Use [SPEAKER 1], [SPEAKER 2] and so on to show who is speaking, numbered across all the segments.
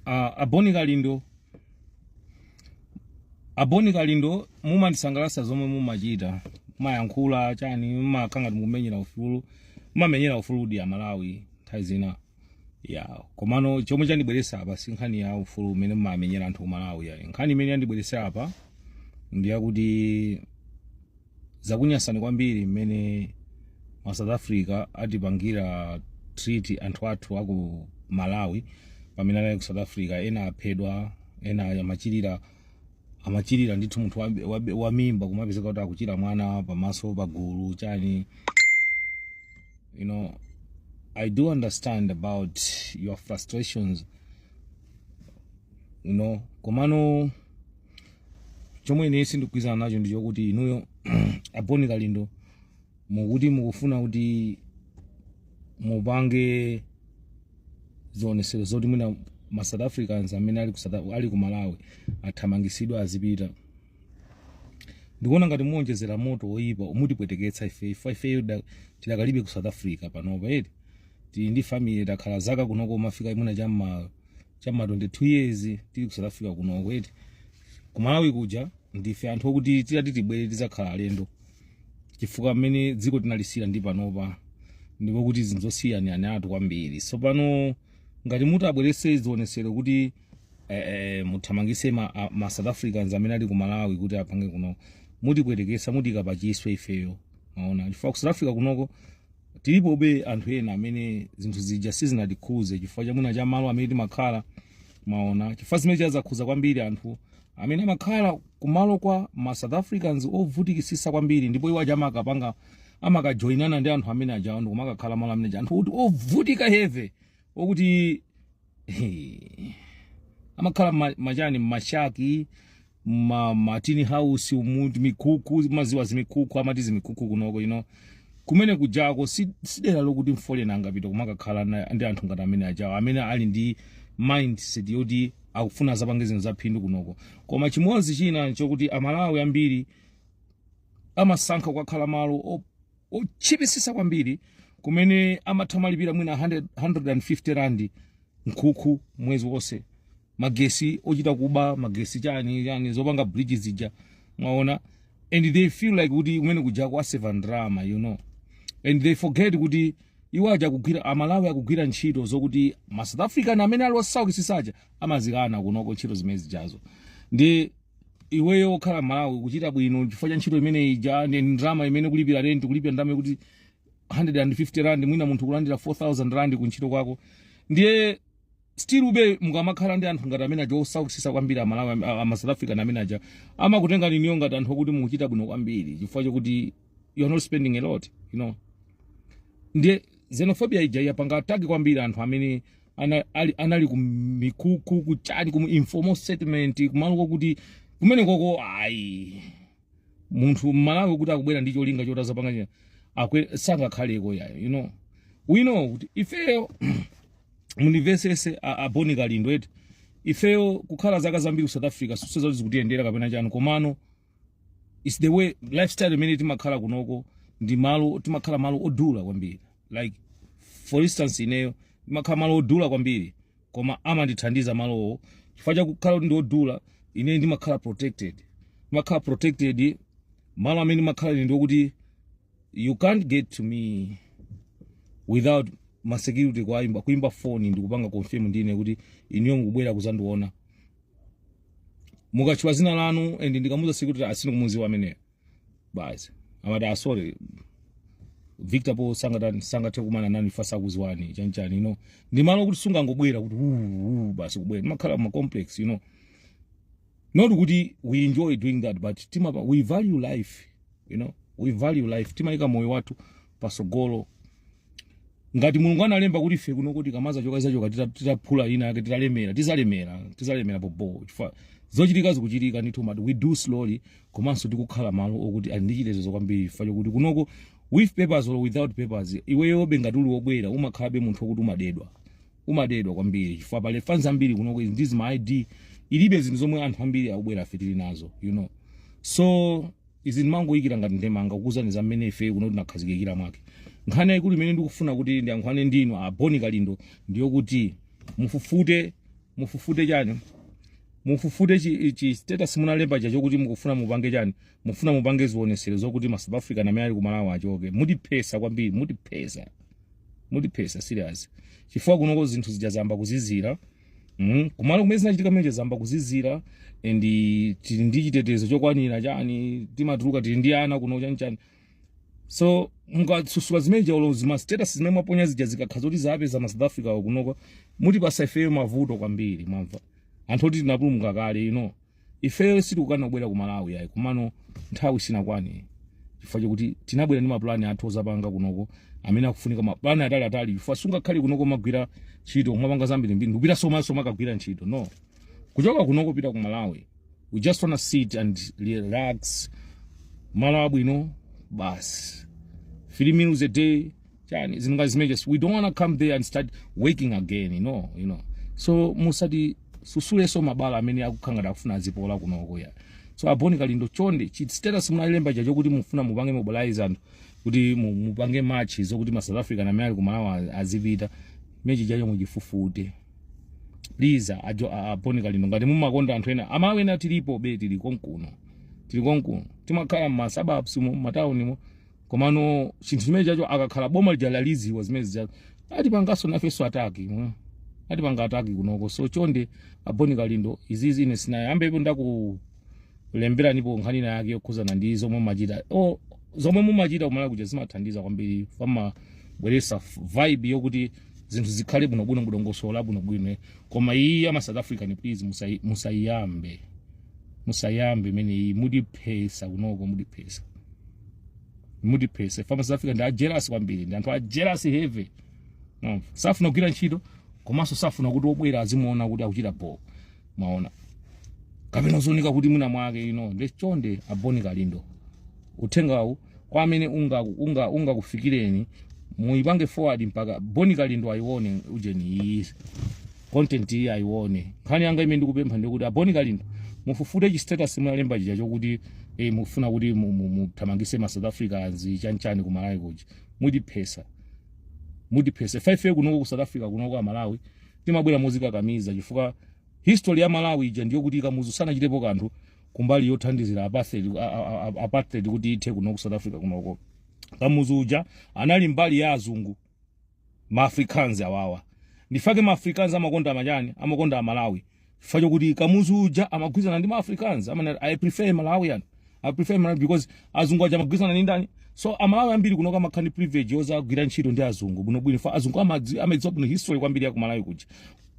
[SPEAKER 1] a Boni Kalindo mumandisangalatsa zomwe mumachita mayankhula chani mumakhala ngati mukumenyera ufulu mumamenyera ufulu wa a Malawi nthawi zina ya komano chomwe chandibweretsa apa si nkhani ya ufulu umene mumamenyera anthu a Malawi ya nkhani imene yandibweretsa apa ndi yakuti zakunyansani kwambiri mmene ma south africa atipangira treat anthu athu aku malawi pamene anali ku south africa ena aphedwa ena amachirira amachirira ndithu munthu wa- wa- wa mimba kumapezeka kuti akuchira mwana pamaso pagulu chani you know i do understand about your frustrations you know komano chomwe ine sindikugwirizana nacho ndi chokuti inuyo aboni kalindo mukuti mukufuna kuti mupange zionesero zoti mwina ma south africans amene ali ku, South Af- ali ku malawi athamangisidwa azipita ndikuona ngati muwonjezera moto woyipa mutipweteketsa ife ife ifeyo da- tidakalibe ku south africa panopa eti tili ndi family takhala zaka kunoko kumafika mwina cham'ma cham'ma 22 years tili ku south africa kunoko eti kumalawi kuja ndife anthu okuti titati tibwere tizakhala alendo chifukwa mmene dziko tinalisiyira ndi panopa ndi pokuti zinthu zosiyaniranatu kwambiri so pano ngati muti mubwerese zionesero kuti eh, eh, muthamangise ma, a- ma south africans amene ali ku malawi kuti apange kuno mutipwetekesa mutiika pachiswe ifeyo mwaona chifukwa ku south africa kunoko tilipobe anthu ena amene zinthu zija sizinatikhudze chifukwa cha mwina cha malo amene timakhala mwaona chifukwa zimene zija zakhuza kwambiri anthu amene amakhala kumalo kwa ma south africans ovutikisisa kwambiri ndipo iwo aja amakapanga amakajoinana ndi anthu amene ajawo ndikumakakhala malo amene aja anthu okuti ovutika heavy okuti amakhala ma- machani mashaki ma, ma tin house umu timikuku mwaziwa zimikuku amati zimikuku kunoko you know kumene kujako si, si dera lokuti mfoleni angapita kumakakhala na- ndi anthu ngati amene ajawo amene ali ndi mindset yoti akufuna azapange zinthu zaphindu kunoko koma chimodzi china chokuti amalawi ambiri amasankha kukakhala malo otchipisisa kwambiri kumene amatha kumalipira mwina 100 150 rand mkuku mwezi wonse magesi ochita kuba magesi chani chani zopanga bridge zija mwaona and they feel like kuti kumene kujako aseva ndrama you know and they forget kuti iwo aja akugwira amalawi akugwira ntchito zokuti ma south african amene ali osaukitsitsa aja amazikana kunoko ntchito zimene zijazo ndi iweyo okhala malawi ukuchita bwino chifukwa cha ntchito imene ija ndi ndalama imene kulipira rent kulipira ndalama kuti 150 rand mwina munthu kulandira 4000 rand ku ntchito kwako ndiye stillbe mukamakhala ndi anthu ngati amene aja osaukisisa kwambiri amalawi am- a- ama south african amene aja amakutengani iniyo ngati anthu okuti mukuchita bwino kwambiri chifukwa chakuti you are not spending a lot you know ndiye xenophobia ija yapanga attack kwambiri anthu amene ana, ali, anali kumikukhu kuchani ku informal settlement kumalo kokuti kumene koko ayi munthu mmalawi kuti akubwera ndi cholinga choti azapanga china chake sangakhaleko yayo you know we know kuti ifeyo mundimvesese a boni kalindo eti ifeyo kukhala zaka zambiri ku south africa sinso zoti zikutiyendera kapena chani komano it's the way lifestyle imene timakhala kunoko ndi malo timakhala malo odula kwambiri like for instance ineyo ndimakhala malo odula kwambiri koma amandithandiza malowo chifukwa chakukhala kuti ndi odula ine ndimakhala protected ndimakhala protected malo amene ndimakhala ine ndiokuti you can't get to me without masecurity kuimba kuimba phone ndikupanga confirm ndine kuti iniyo mukubwera kuzandiona mukatchula zina lanu and ndikamuuza security a sinikumuziwa ameneyo basi amati a sorry victor po sangata- sangathe kumana nani fa sakuziwani chanchani you know ndi malo okuti sungangobwera kuti "Uu, uu," basi kubwera timakhala ma complex you know not kuti we enjoy doing that but timapa we value life you know we value life timayika moyo wathu pasogolo ngati mulungu analemba kuti ife kuno tikamazachoka tizachoka titaphula ina yake titalemera tizalemera tizalemera bobo chifukwa zochitika zikuchitika ndithu but we do slowly komanso tikukhala malo okuti ali ndi chitetezo kwambiri chifukwa chokuti kunoko with papers or without papers iweyobe ngati uli wobwera umakhalabe munthu okuti umadedwa umadedwa kwambiri chifukwa pali fans ambiri kunoko ndizi ma id ilibe zinthu zomwe anthu ambiri akubwerafe tili nazo you know so izi ndimangoyikira ngati ndemanga kukuuzani za mmene ifeyo kuno tinakhazikikira mwake nkhani yayikulu imene ndikufuna kuti ndiyankhulane ndinu a boni kalindo ndiyokuti mufufute mufufute chani mufufute chi, chi status munalemba cha chokuti mukufuna mupange chani mufuna mupange zionesero zokuti ma south african amene ali kumalawi achoke mutiphesa kwambiri mutiphesa mutiphesa serious chifukwa kunoko zinthu zija zayamba kuzizira Mm, kumalo kumene zinachitika mmene zayamba kuzizira and tili ndi chitetezo chokwanira chani timatuluka tili ndi ana kuno chani chani so mukasusula zimene jaulo zima status zimene mwaponya zija zikakhala zoti zapeza ma south africa akunoko mutipasa ifeyo mavuto kwambiri mwamva anthu oti tinapulumuka kale you know ifeyo sitikukana kubwera ku malawi yayi kumano nthawi sinakwane chifukwa chakuti tinabwera ndi mapulani athu ozapanga kunoko amene akufunika mapulani atali atali chifukwa sungakhale kunoko kumagwira ntchito kumapanga zambirimbiri ndikupita somanso kumakagwira ntchito no kuchoka kunoko pita ku malawi we just wanna sit and relax malo abwino basi three meals a day chani zinunga zimenezi we don't wanna come there and start working again you know you know so musati susuleso mabala amene akukhangata akufuna azipola kunoko ya so aboni kalindo chonde chi status munalemba chacho kuti mufuna mupange mobilize anthu kuti mu- mupange match zokuti ma south african amene ali kumalawi azipita mechi chacho muchifufute please ajo aboni kalindo ngati mumakonda anthu ena amalawi ena tilipobe tili konkuno tili konkuno timakhala mmasababs mu mataunimo komano chinthu chimene chacho akakhala boma lija laziziwa zimenezija atipanganso nafenso ataki mwa. atipanga ataki kunoko so chonde aboni kalindo izizi ine sinayo ambepo ndakulemberanipo nkhani ina yake yokhuzana ndi zomwe mumachita o zomwe mumachita kumalawi kuja zimathandiza kwambiri pamabweresa vibe yokuti zinthu zikhale bwinobwino mudongosola bwinobwino koma iyi ama south african please musai- musayiyambe musayambe imeneyi mutiphesa kunoko mutiphesa mutiphesa fa ma south africa ndi ajealous kwambiri ndi anthu ajealous heavy no. safuna kugwira ntchito komanso safuna kuti obwera azimuona kuti akuchita bho maona kapena zooneka kuti mwina mwake ino nde chonde aboni kalindo uthengawu kwa amene ungakufikireni unga, unga ungakufikireni, muipange forward mpaka boni kalindo ayione ujeni iyi content iyi ayione nkhani yanga imene ndikupempha ndikuti aboni kalindo mufufute chi status munalemba chija chokuti eh, mufuna kuti mu- mu- muthamangise ma south africans chanchani ku malawi kuja mutiphesa mutiphesa ife kunoko ku south africa kunoko amalawi timabwera mozikakamiza chifukwa history ya malawi ija ndi yokuti kamuzu sanachitepo kanthu kumbali yothandizira apartheid, a- a- a- a- apartheid kuti ithe kunoko south africa kunoko kamuzu uja anali mbali ya azungu maafrikaans awawa ndifake maafrikaans amakonda machani amakonda amalawi chifukwa chokuti kamuzu uja amagwirizana ndi maafrikaans amanena i prefer malawian i prefer malawi because azungu aja amagwirizana ndi ndani so amalawi ambiri kunoko amakhala ndi privilege yozagwira ntchito ndi azungu bwinobwino fa azungu amadzi- amadziwa bwino history kwambiri ya kumalawi kuja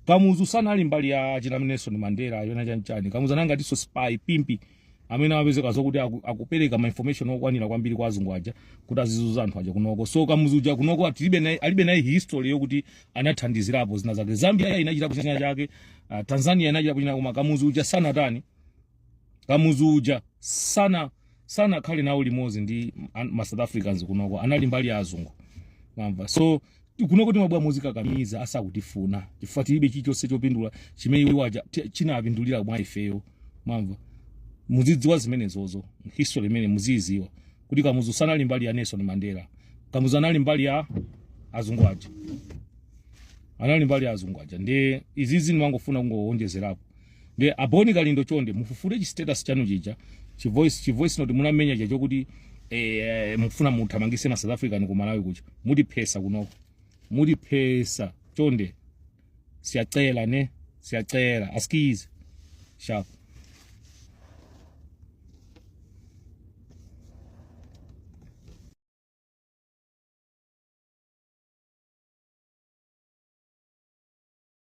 [SPEAKER 1] kamuzu sanali mbali ya achina nelson mandela ujeni chanchani kamuzu anali ngatinso spy pimpi amene amapezeka zokuti aku- akupereka ma information okwanira kwambiri kwa azungu aja kuti azizuza anthu aja kunoko so kamuzu uja kunoko atilibe naye- alibe naye history yokuti anathandizirapo zina zake zambia inachitapo china chake ah, tanzania inachitapo china koma kamuzu uja sanatani kamuzu uja sana sanakhale nawo limodzi ndi an- ma south africans kunoko anali mbali ya azungu mamva so kunoko timabwera muzikakamiza asakutifuna chifukwa tilibe chilichonse chopindula chimene iwo aja ti- chinapindulira mwa ifeyo mamva muzidziwa zimenezozo history imene muziyidziwa kuti kamuzu sanali mbali ya nelson mandela kamuzu anali mbali ya azungu aja anali mbali ya azungu aja ndi izizi ndimangofuna kungowonjezerapo Ndiye aboni kalindo chonde mufufute chi status chanu chija chi voice chi voice note munamenya chacho kuti eh, mufuna muthamangise ma South African ku Malawi kucha muti phesa kunoko muti phesa chonde siyacela ne siyacela askize sharp